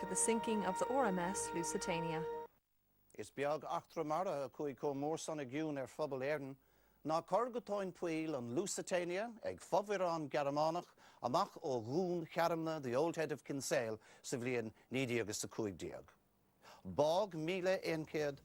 to the sinking of the RMS Lusitania. Is beag eachtra mara a chuaigh chomh mór san i gcion ar phobal Éireann ná cur go tóin poill an Lusitania ag fomhuireán Gearmánach amach ó Dhún Chearmna, The Old Head of Kinsale, sa bhliain 1915. Bádh míle aon chéad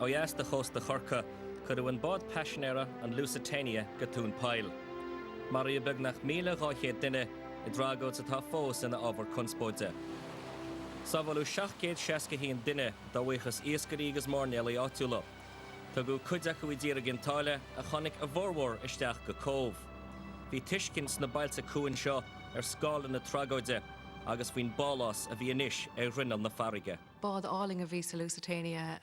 Ó dheas de chósta Chorcaí, cuireadh an bád paisinéara, an Lusitania, go tóin poill. Maraíodh beagnach míle dhá chéad duine i dtragóid atá fós ina ábhar conspóide. Sábháladh 761 duine, dá bhuíochas iascairí agus mairnéalaigh áitiúla. Tugadh cuid acu i dtír i gCinn tSáile ach tháinig a bhformhór isteach go Cóbh. Bhí tuiscint sna bailte cuain seo ar scála na tragóide agus faoin bpálás a bhí anois ar ghrinneall na farraige. Bád fíorálainn a bhí sa Lusitania.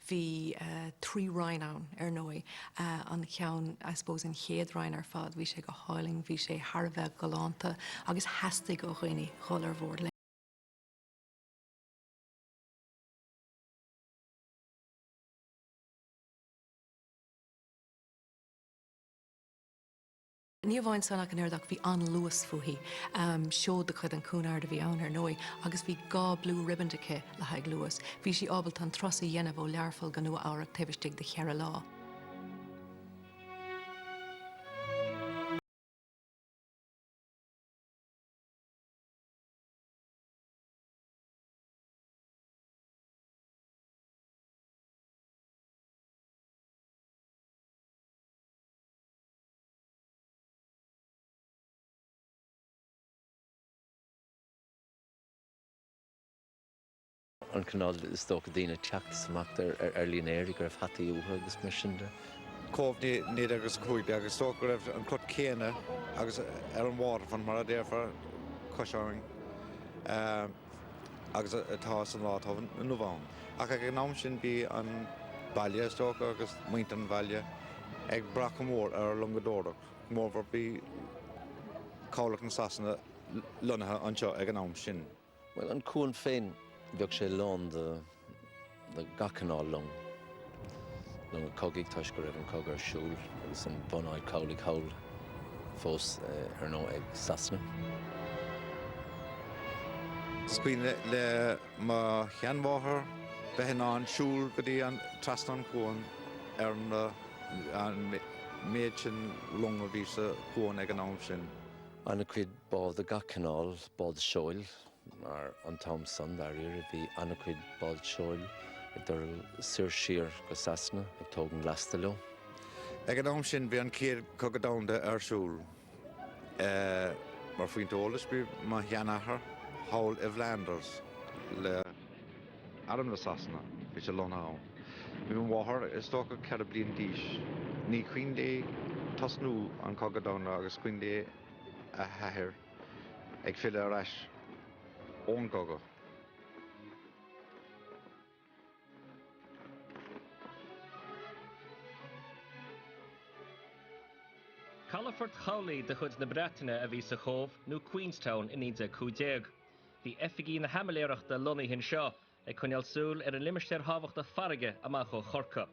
Bhí trí roinn ann, ar ndóigh. An ceann, I suppose an chéad roinn ar fad, bhí sé go hálainn, bhí sé thar a bheith galánta agus theastaigh ó dhaoine dhul ar bhord léi. Ní amháin san ach an oiread ach bhí an-luas fúithi. Seó de chuid an Cunard a bhí ann, ar ndóigh, agus bhí dhá blue ribbon aici le haghaidh luais. Bhí sí ábalta an turas a dhéanamh ó Learpholl go Nua Eabhrac taobh istigh de cheithre lá. an cineál, is dócha, daoine ag teacht is imeacht ar línéir go raibh hataí uathu agus mar sin de. Cóbh i 1915. Is dócha go raibh an cruth céanna agus ar an waterfront, mar a déarfá, cois abhainn. agus atá san lá atá inniu ann. Ach ag an am sin bhí an baile, is dócha, agus muintir an bhaile ag brath go mór ar loingseoireacht, go mór mór bhí cabhlach na Sasana lonnaithe anseo ag an am sin. Bhuel, an cuan féin, bheadh sé lán de gach cineál long, longa cogaidh toisc go raibh an cogadh ar siúl agus an bhunáit chabhlaigh thall fós ar ndóigh ag Sasana. Is cuimhin le mo sheanmháthair bheith in ann siúl go dtí an, trasna an chuain ar na, an méid sin long a bhí sa chuan ag an am sin. An-chuid bád de gach cineál, báid seoil, mar an t-am san, dáiríre, bhí an-chuid báid seoil ag dul soir siar go Sasana ag tógaint lasta leo. Ag an am sin, bhí an Chéad Chogadh Domhanda ar siúl. Mar phointe eolais, bhí mo sheanathair thall i bhFlanders le arm na Sasana, bhí sé lonnaithe ann. Bhí mo mháthair, is dócha, ceithre bliana d'aois. Ní cuimhin léi tosnú an Chogadh Domhanda ach is cuimhin léi a hathair. Ag filleadh ar ais ón gcogadh. Calafort chabhlaigh de chuid na Breataine a bhí sa Chóbh, nó Queenstown, i 1915. Bhí oifigí na haimiléarachta lonnaithe anseo, ag coinneáil súil ar an limistéar thábhachtach farraige amach ó Chorcaigh.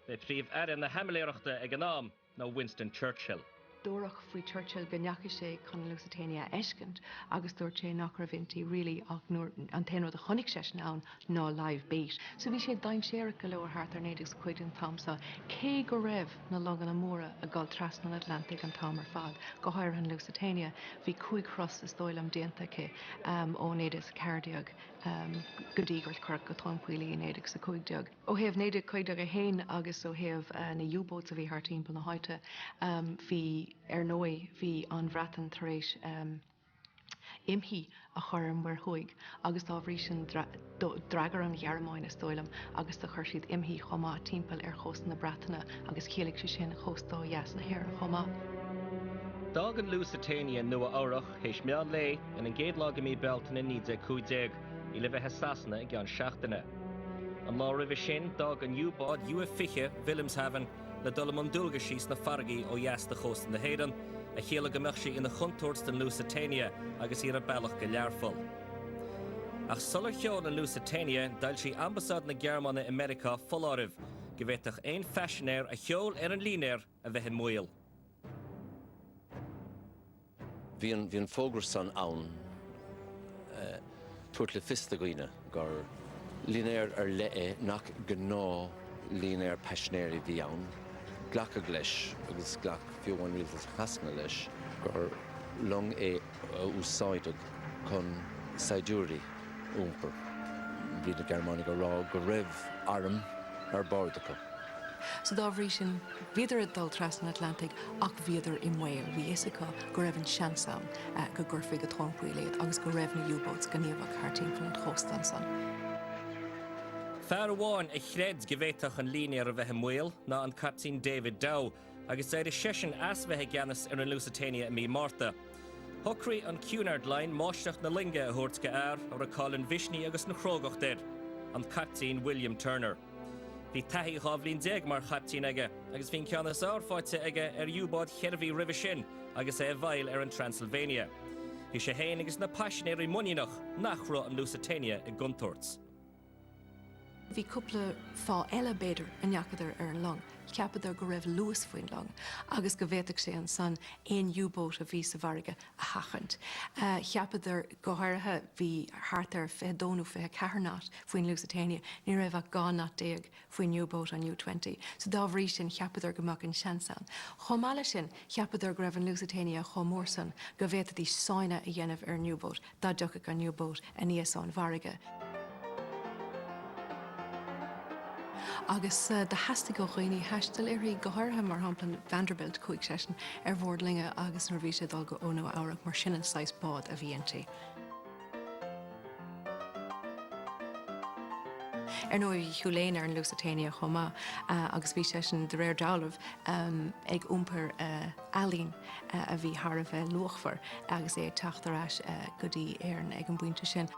B'é Príomh-Aire na hAimiléireachta ag an am ná Winston Churchill. Dúradh faoi Churchill go ndeachaigh sé chun an Lusitania a fheiscint agus dúirt sé nach raibh inti really ach an t-aon rud a chonaic seisean ann ná live bait. So bhí sé dainséarach go leor thart ar naoi déag a cúig déag an t-am so, cé go raibh na longanna móra ag dul trasna an Atlantaigh an t-am ar fad, go háirithe an Lusitania, bhí cúig thuras, is dóigh liom, déanta aici ó naoi déag a ceathair déag go dtí gur cuireadh go tóin poill í i naoi déag a cúig déag. Ó thaobh 1915 féin agus ó thaobh na U-boats a bhí thart timpeall na háite, bhí, ar ndóigh, bhí an Bhreatain tar éis imshuí a chur ar an Muir Thuaidh agus dá bhrí sin d'fhreagair an Ghearmáin, is dóigh liom, agus do chuir siad imshuí chomh maith timpeall ar chósta na Breataine agus chiallaigh sé sin cósta ó dheas na hÉireann chomh maith. D'fhág an Lusitania Nua-Eabhrac théis meán lae ar an gcéad lá de mhí Bealtaine 1915. í le bheith i Sasana i gceann seachtaine. An lá roimhe sin, d'fhág an U-bád U-20, Wilhelmshaven, le dul i mbun dualgaisí sna farraigí ó dheas de chósta na hÉireann, a chiallaigh go mbeadh sí ina chontúirt don Lusitania agus í ar a bealach go Learpholl. Ach sular sheol an Lusitania, d'fhoilsigh Ambasáid na Gearmáine i Meiriceá foláireamh go bhféadfadh aon phaisinéir a sheol ar an línéar, a bheith i mbaol. Bhí an fógra san ann ag tabhairt le fios do dhaoine gur línéar ar leith é, nach gnáthlínéar paisinéirí a bhí ann. Glacadh leis, agus ghlac fiú amháin rialtas Shasana leis, gur long é. a úsáideadh chun saighdiúirí a iompar. Bhí na Gearmánaigh ag rá go raibh airm ar bord acu. So dá bhrí sin, bhíodar ag dul trasna an Atlantaigh ach bhíodar i mbaol. Bhí a fhios acu go raibh an seans ann go gcuirfí go tóin poill iad agus go raibh na U-boats gníomhach thart timpeall an chósta ansan. Fear amháin a chreid go bhféadfadh an línéar a bheith i mbaol ná an Caiptín David Dow, agus d'éirigh seisean as bheith i gceannas ar an Lusitania i mí Márta. Shocraigh an Cunard Line máistreacht na loinge a thabhairt go fear a raibh cáil an mhisnigh agus na crógacht air, an Caiptín William Turner. Bhí taithí dhá bhliain déag mar chaiptín aige, agus bhí an ceann is fearr faighte aige ar U-boat cheithre mhí roimhe sin agus é i bhfeighil ar an Transylvania. Bhí sé féin agus na paisinéirí muiníneach nach raibh an Lusitania i gcontúirt. Bhí cúpla fáth eile, b'fhéidir, a ndeachadar ar an long. Cheapadar go raibh luas faoin long agus go bhféadfadh sé ansan aon U-boat a bhí sa bhfarraige a sheachaint. Cheapadar, go háirithe, bhí thart ar fiche dó nó fiche ceathair knot faoin Lusitania, ní raibh ach dhá knot déag faoin U-boat, an U-20, so dá bhrí sin cheapadar go mbeadh an seans ann. Chomh maith leis sin, cheapadar go raibh an Lusitania chomh mór san go bhféadfaí sáinneadh a dhéanamh ar an U-boat, dá dtiocfadh an U-Boat aníos ón bhfarraige. Agus theastaigh ó dhaoine taisteal uirthi, go háirithe, mar shampla, an Vanderbilt, chuaigh seisean ar bhord loinge agus nuair a bhí sé ag dul go ó Nua Eabhrac, mar sin an saghas bád a bhí inti. Ar ndóigh, bhí Hugh Lane ar an Lusitania chomh maith agus bhí seisean, de réir dealraimh, ag iompar ealaín a bhí thar a bheith luachmhar agus é ag teacht ar ais go dtí Éirinn ag an bpointe sin.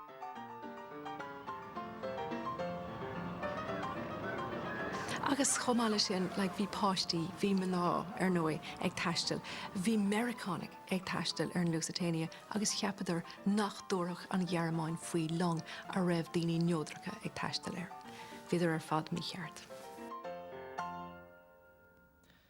Agus chomh maith leis sin, bhí páistí, bhí mná, ar ndóigh, ag taisteal. Bhí Meiriceánaigh ag taisteal ar an Lusitania agus cheapadar nach dtabharfadh an Ghearmáin faoi long a raibh daoine neodracha ag taisteal air. Bhíodar ar fad mícheart.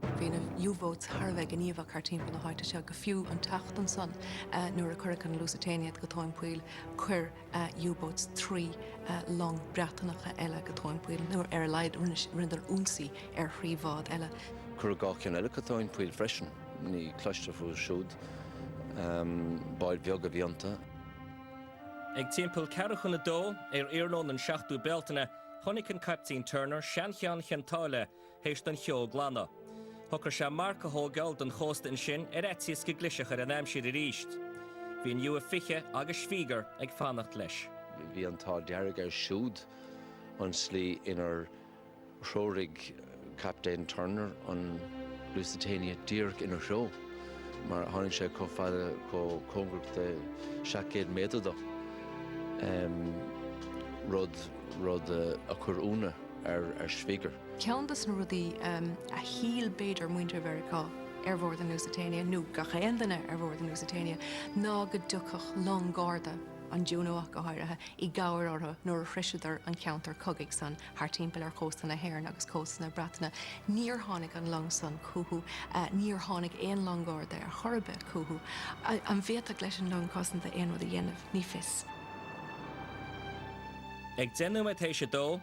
Bhí na U-Boats thar a bheith gníomhach thart timpeall na háite seo, go fiú an tseachtain san nuair a cuireadh an Lusitania go tóin poill, chuir U-Boats trí long Breatanacha eile go tóin poill, nó ar a laghad rinneadar ionsaí ar thrí bhád eile. Cuireadh dhá cheann eile go tóin poill freisin, ní cloistear fúthu siúd, báid bheaga a bhí iontu. Ag timpeall ceathrú chun a dó, ar iarnóin an 7ú Bealtaine, chonaic an Caiptín Turner Seancheann Chionn tSáile, th'éis don cheo glanadh. Shocair sé marc a thógáil ón gcósta ansin ar fhaitíos go gclisfeadh ar an aimsir arís. Bhí an U-20 agus Schwieger ag fanacht leis. Bhí an t-ádh dearg air siúd an slí inar threoraigh Captaen Turner an Lusitania díreach ina threo mar tháinig sé chomh fada chomh cóngarach de 700 méadar dó, rud a chuir ionadh ar Schwieger. Ceann de na rudaí a shíl b'fhéidir muintir Mheiriceá ar bhord an Lusitania, nó gach aon duine ar bhord an Lusitania, ná go dtiocfadh long garda, an Juno ach go háirithe, i gcabhair orthu nuair a shroiseadar an ceantar cogaidh san thart timpeall ar chósta na hÉireann agus cósta na Breataine. Níor tháinig an long san chucu. Níor tháinig aon long garda ar chor ar bith chucu. An bhféadfadh an long cosanta aon rud a dhéanamh? Ní fios. Ag deich nóiméad tar éis a dó.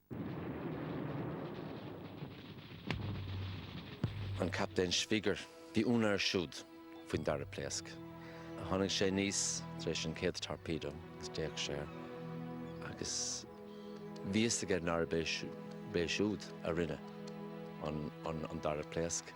an Captaen Schwieger. Bhí ionadh air siúd faoin dara pléasc. A tháinig sé aníos tar éis an chéad torpedo agus d'fhéach sé air agus bhí fhios aige nárb é siúd a rinne an dara pléasc.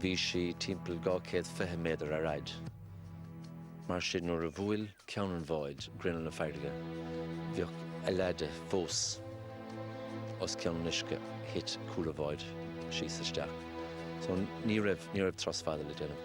Bhí sí timpeall dhá chéad fiche méadar ar fhaid. Mar sin, nuair a bhuail ceann an bháid grinneall na farraige, bheadh a leath de fós os cionn an uisce, Thit cúl a bháid síos isteach. So ní raibh turas fada le déanamh.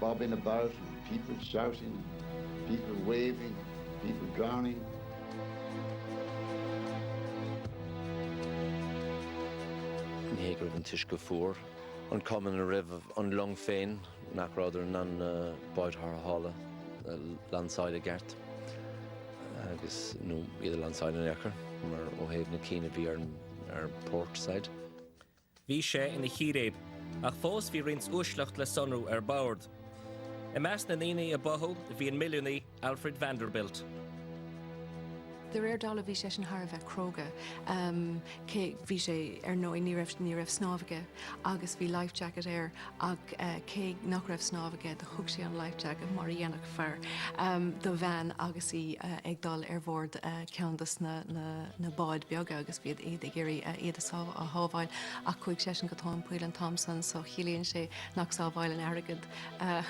Bobbing about and, people shouting, people waving, people drowning. Ní hé go raibh an t-uisce fuar, an chuma ina raibh an long féin, nárbh fhéidir na báid tarrthála a lainseáil i gceart agus, nó iad a lainseáil in aon chor, mar ó thaobh na cinn a bhí ar port side. Bhí sé ina chíréib, ach fós bhí roinnt uaisleacht le sonrú ar bord. I measc na ndaoine a báthadh bhí an milliúnaí Alfred Vanderbilt. De réir dála bhí seisean thar a bheith cróga, cé, bhí sé, ar ndóigh, ní raibh, ní raibh snámh aige agus bhí life jacket air ach cé nach raibh snámh aige do thug sé an life jacket mar a dhéanfadh, fearr, do bhean agus í ag dul ar bhord ceann de na báid bheaga agus bhíodar ag iarraidh iad a shábháil ach chuaigh seisean go tóin poill an t-am san so ciallaíonn sé nach sábhálann airgead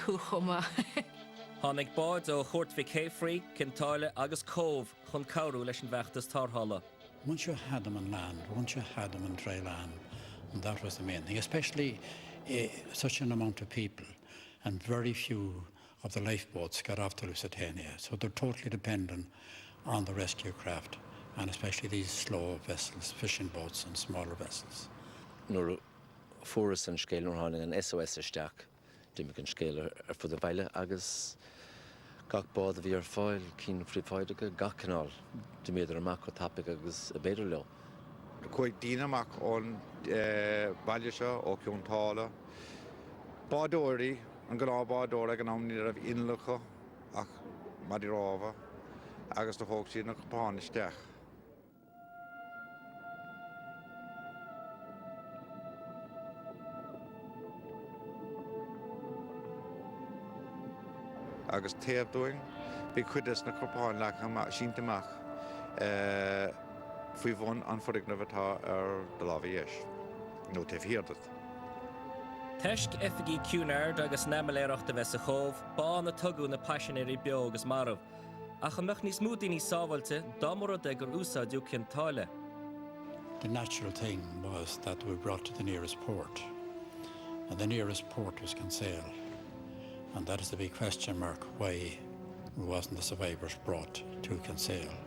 thú chomh maith! Tháinig báid ó Chúirt Mhic Shéafraidh, Cionn tSáile agus Cóbh chun cabhrú leis an bhfeachtas tarrthála. Once you had them on land, once you had them on dry land, that was the main thing, especially such an amount of people and very few. of the lifeboats got off the Lusitania, so they're totally dependent on the rescue craft and especially these slow vessels, fishing boats and smaller vessels. Nuair a fuarthas an scéal, nuair a tháinig an SOS isteach, d'imigh an scéal ar fud an bhaile agus gach bád a bhí ar fáil, cinn phríobháideacha, gach cineál, d'imíodar amach chomh tapaidh agus ab fhéidir leo. Chuaigh daoine amach ón bhaile seo, ó Chionn tSáile. Bádóirí, an gnáthbhádóir ag an am, ní raibh innill acu ach maidí rámha agus do thóg siad na corpáin isteach. Agus taobh linn bhí cuid des na corpáin leagtha amach, sínte amach. faoi bhun an foirgnimh atá ar do láimhe dheis nó taobh thiar de. Toisc oifigí Cunard agus na hAimiréalachta a bheith sa Chóbh b'ann a tugadh na paisinéirí beo agus marbh. Ach an mbeadh níos mó daoine sábháilte dá mba rud é gur úsáideadh Cionn tSáile? the natural thing was that they be brought to the nearest port and the nearest port was Kinsale and that is the big question mark why wasn't the survivors brought to Kinsale.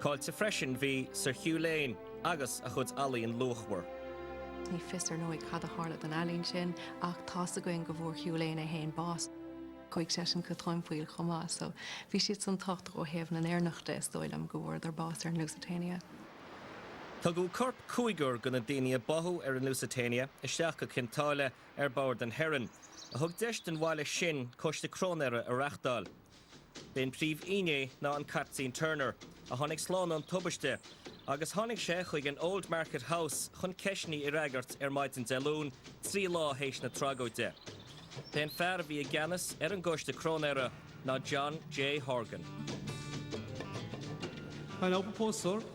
Caillte freisin bhí Sir Hugh Lane agus a chuid ealaíon luachmhar. Ní fios ar ndóigh cad a tharla don ealaín sin ach tá a fhios againn go bhfuair Hugh Lane é féin bás. Chuaigh seisean go tóin poill chomh maith so bhí siadsan tábhachtach ó thaobh na nÉireannach de, is dóigh liom go bhfuaireadar bás ar an Lusitania. Tugadh coirp cúigear de na daoine a báthadh ar an Lusitania isteach go Cionn tSáile ar bord an Heron, a thug deis don bhaile sin coiste cróinéara a reachtáil. B'é an príomhfhínné ná an Caiptín Turner, a tháinig slán ón tubaiste, agus tháinig sé chuig an Old Market House chun ceisteanna a fhreagairt ar maidin Dé Luain, trí lá théis na tragóide. B'é an fear a bhí i gceannas ar an gcoiste cróinéara ná John J. Horgan.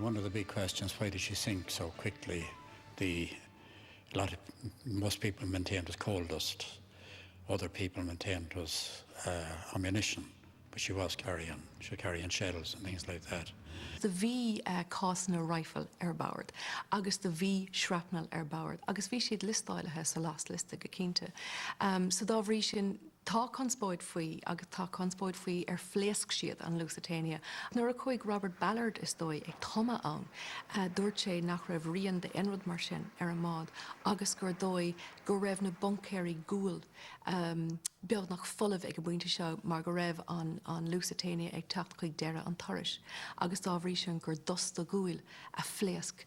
One of the big questions, why did she sink so quickly, the lot of most people maintained was coal dust, other people maintained it was ammunition but she was carrying, she was carrying shells and things like that. Do bhí cásanna rifle ar bord agus do bhí shrapnel ar bord agus bhí siad liostáilithe sa last list go cinnte so dá bhrí sin, Tá conspóid faoi agus tá conspóid faoi ar phléasc siad, an Lusitania. Nuair a chuaigh Robert Ballard, is dóigh, ag tumadh ann, dúirt sé nach raibh rian d'aon rud mar sin ar an mbád agus gur dóigh go raibh na buncaeirí guail beagnach folamh ag an bpointe seo mar go raibh an Lusitania ag teacht chuig deireadh an turais agus dá bhrí sin gur dusta guail a phléasc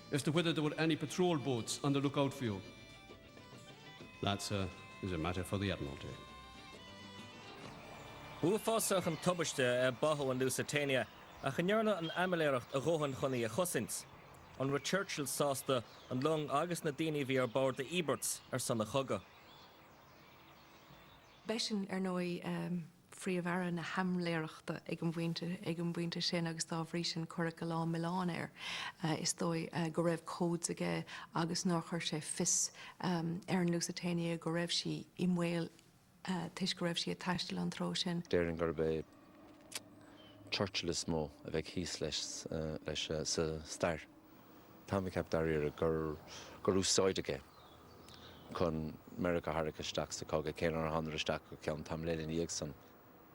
as to whether there were any patrol boats on the look-out for you. That, sir, is a matter for the Admiralty. B'uafásach an tubaiste é báthadh an Lusitania, ach an ndearna an Aimiréalacht a dhóthain chun í a chosaint? An raibh Churchill sásta an long agus na daoine a bhí ar bord a íobairt ar son an chogaidh? B'eisean, ar ndóigh. Príomh-Aire na hAimiréalachta ag an bpointe sin agus dá bhrí sin cuireadh a lán milleáin air, is dóigh, go raibh codes aige agus nár chuir sé in iúl ar an Lusitania go raibh sí i mbaol toisc go raibh sí ag taisteal an treo sin. Déarfainn gurb é Churchill is mó a bheidh thíos leis sa stair. Tá mé ag ceapadh dáiríre gur gur úsáideadh é chun Meiriceá a tharrac isteach sa chogadh, cé nár thánadar isteach go ceann tamaill eile ina dhiaidh san.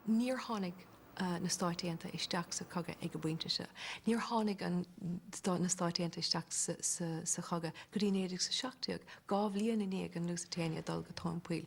Níor tháinig na Stáit Aontaithe isteach sa chogadh ag an bpointe seo, níor tháinig na na Stáit Aontaithe isteach sa sa sa chogadh go dtí 1917, dhá bhliain i ndiaidh an Lusitania dul go tóin poill.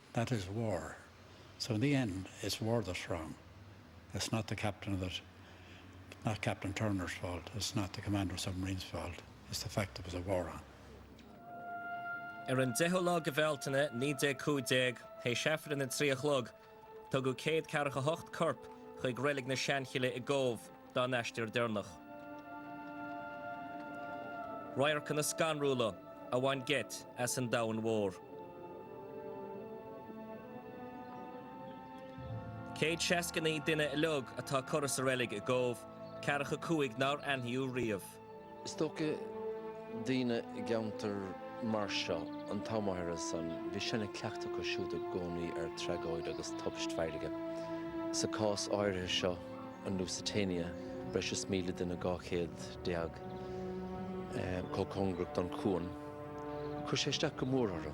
That is war. So in the end it's war that's wrong. It's not the captain that, it's not Captain Turner's fault, it's not the commander of submarines' fault, it's the fact there was a war on. Ar an deichiú lá de Bhealtaine, 1915, théis aifreann a trí a chlog, tugadh céad ceathracha hocht corp chuig Reilig na Seanchille i gCóbh. dá n-aistear deireanach. Radharcanna scanrúla a bhain geit as an domhan mór. Céad seasca naoi duine uilig atá curtha sa reilig i gCóbh, ceathracha a cúig nár aithníodh riamh. Is dócha daoine i gceantar mar seo an t-am áirithe san, bhí sean-chleachtadh acu siúd i gcónaí ar tragóid agus tubaist farraige. Sa cás áirithe seo, an Lusitania, breis is míle duine, dhá chéad déag, chomh cóngarach don chuan, chuir sé isteach go mór orthu.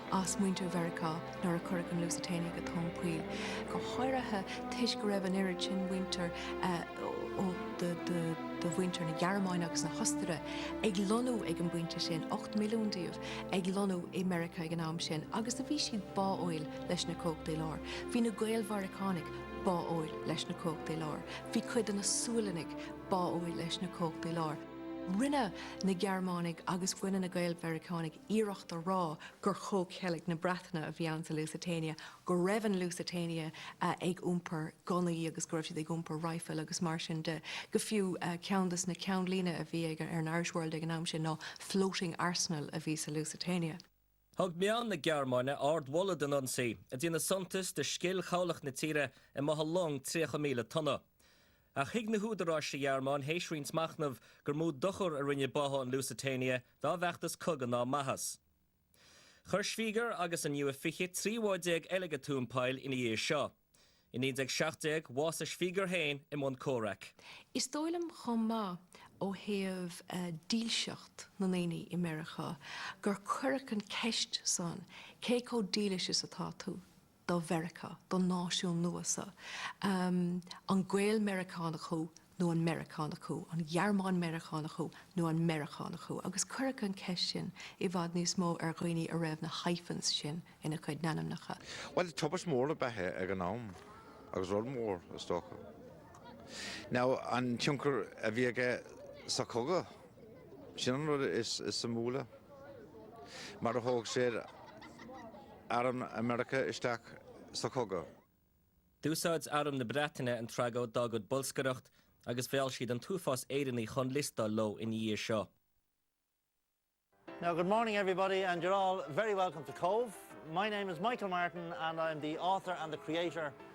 as muintir Mheiriceá nuair a cuireadh an Lusitania go tóin poill, go háirithe toisc go raibh an oiread sin muintir de mhuintir na Gearmáine agus na hOstaire ag lonnú ag an bpointe sin, ocht milliún díobh ag lonnú i Meiriceá ag an am sin, agus do bhí siad báúil leis na Cumhachtaí Láir. Bhí na Gael-Mheiriceánaigh báúil leis na Cumhachtaí Láir. Bhí cuid de na Sualannaigh báúil leis na Cumhachtaí Láir. Rinne na Gearmánaigh agus rinne na Gael-Mheiriceánaigh iarracht a rá gur chomhcheilg na Breataine a bhí ann sa Lusitania, go raibh an Lusitania ag iompar gunnaí agus go raibh siad ag iompar raidhfil agus mar sin de. Go fiú, ceann des na ceannlínte a bhí ar an Irish World ag an am sin ná 'Floating Arsenal' a bhí sa Lusitania. Thug meáin na Gearmáine ard-mholadh don ionsaí, ag déanamh suntas de scil chabhlach na tíre i mbáthadh long 30,000 tonna. Ach thuig na húdaráis sa Ghearmáin, théis roinnt machnaimh, gur mó dochar a rinne báthadh an Lusitania dá bhfeachtas cogaidh ná maitheas. Chuir Schwieger agus an U-20 33 bád eile go tóin poill ina dhiaidh seo. I 1917, bhásaigh Schwieger féin i mbun comhraic. Is dóigh liom chomh maith, ó thaobh dílseacht na ndaoine i Meiriceá, gur cuireadh an ceist san, cé chomh dílis is atá tú? do Mheiriceá, don náisiún nua seo, an Gael-Meiriceánach thú nó an Meiriceánach thú, an Gearmán-Mheiriceánach thú nó an Meiriceánach thú, agus cuireadh an cheist sin i bhfad níos mó ar dhaoine a raibh na hyphens sin ina gcuid n-ainmneacha. Bhuel, tubaist mhór ab ea é ag an am, agus rud mór, is dócha, ná an tionchar a bhí aige sa chogadh. Sin an rud is suimiúla, mar a thóg sé arm Mheiriceá isteach sa chogadh. D'úsáid arm na Breataine an tragóid dá gcuid bolscaireachta, agus mheall siad an t-uafás Éireannaigh chun liostáil leo ina dhiaidh seo. Now good morning everybody and you're all very welcome to Cobh. My name is Michael Martin and I'm the author and the creator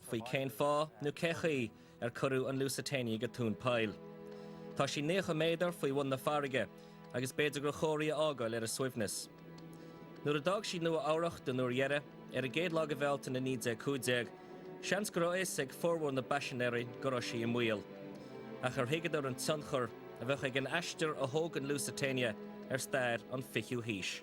faoi cén fáth nó cén chaoi ar cuireadh an Lusitania go tóin poill. Tá sí naocha méadar faoi bhun na farraige agus b'fhéidir gur chóir í a fhágáil ar a suaimhneas. Nuair a d'fhág sí Nua Eabhrach den uair dheiridh, ar an gcéad lá de Bhealtaine 1915, seans go raibh fhios ag formhór na bpaisinéirí go raibh sí i mbaol. Ach ar thuigeadar an tionchar a bheadh ag an aistear a thóg an Lusitania ar stair an fichiú haois?